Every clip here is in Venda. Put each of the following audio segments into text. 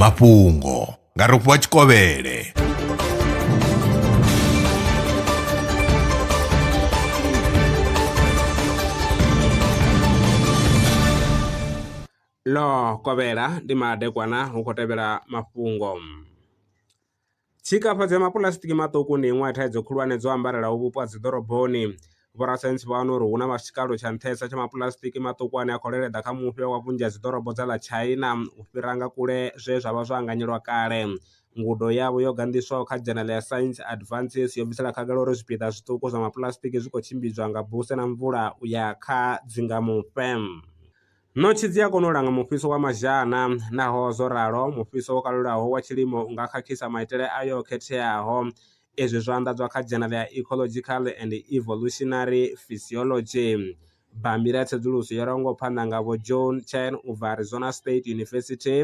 mafhungo nga rofhiwa tshikovhele ḽo kovhela ndi madekwana hu khou tevhela mafhungo Tshikafhadzo ya mapuḽasitiki maṱuku ndi iṅwe ya thaidzo khulwane dzo ambarelaho vhupo ha dziḓoroboni. Vhorasaintsi vha wana uri hu na tshikalo tsha nṱhesa tsha mapuḽasitiki maṱuku ane a khou leleḓa kha mufhe wa vhunzhi ha dziḓorobo dza ḽa China u fhira nga kule zwe zwa vha zwo anganyelwa kale. Ngudo yavho yo ganḓiswaho kha dzhenele ya Science Advances yo bvisela khagala uri zwipiḓa zwiṱuku zwa mapuḽasitiki zwi khou tshimbidzwa nga buse na mvula u ya kha dzingamufhe. Ṋotshi dzi a kona u langa mufhiso wa mazhana. Naho zwo ralo, mufhiso wo kalulaho wa tshilimo u nga khakhisa maitele ayo o khetheaho. Izwi zwo anḓadzwa kha dzhenala ya Ecological and Evolutionary Physiology, bammbiri ya tsedzuluso yo rwaho ngo phanḓa nga Vho John Chen u bva Arizona State University,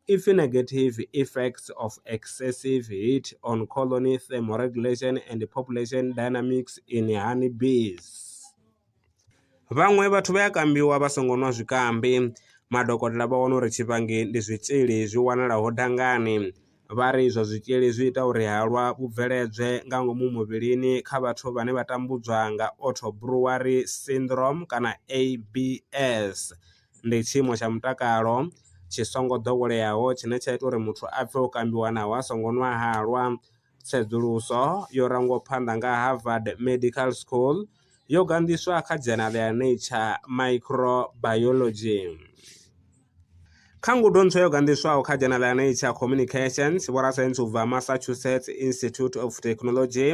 ipfi Negative Effects of Excessive Heat on Colony Thermoregulation and Population Dynamics in Honeybees. Vhaṅwe vhathu vha ya kambiwa vha songo nwa zwikambi. Madokotela vha wana uri tshivhangi ndi zwitzhili zwi wanalaho dangani. Vha ri izwo zwitzhili zwi ita uri halwa vhu bveledzwe nga ngomu muvhilini kha vhathu vhane vha tambudzwa nga Auto Brewery Syndrome kana ABS. Ndi tshiimo tsha mutakalo tshi songo ḓoweleaho tshine tsha ita uri muthu a pfhe o kambiwa naho a songo nwa halwa. tsedzuluso yo rangwaho phanḓa nga Harvard Medical School yo ganḓiswa kha dzhena ḽa Nature Microbiology. Kha ngudo ntswa yo ganḓiswaho kha dzhena ḽa Nature Communications, vhorasaintsi u bva Massachusetts Institute of Technology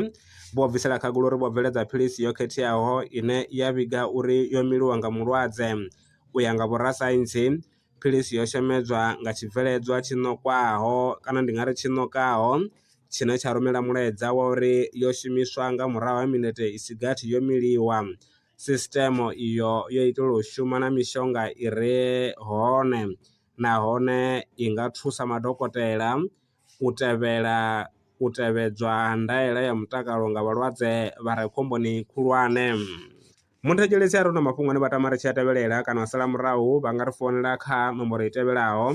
vho bvisela khagula uri vho bveledza philisi yo khetheaho ine ya vhiga uri yo miliwa nga mulwadze. U ya nga vhorasaintsi, philisi yo shemedzwa nga tshibveledzwa tshi ṋokwaho kana ndi nga ri tshi ṋokaho tshine tsha rumela mulaedza wa uri yo shumiswa nga murahu ha minete i si gathi yo miliwa. Sisiṱeme iyo yo itelwa u shuma na mishonga i re hone nahone i nga thusa madokotela u tevhela u tevhedzwa ha ndaela ya mutakalo nga vhalwadze vha re khomboni khulwane. Muthetshelesi a re na mafhungo ane vha tama ri tshi a tevhelela kana u sala murahu vha nga ri founela kha nomboro i tevhelaho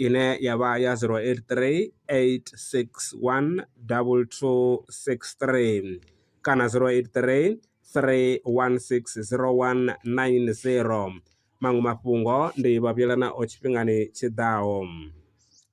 ine ya vha ya 083 861 2263 kana 083 3160190. Maṅwe mafhungo ndi vhavhuyelanaho tshifhingani tshi ḓaho.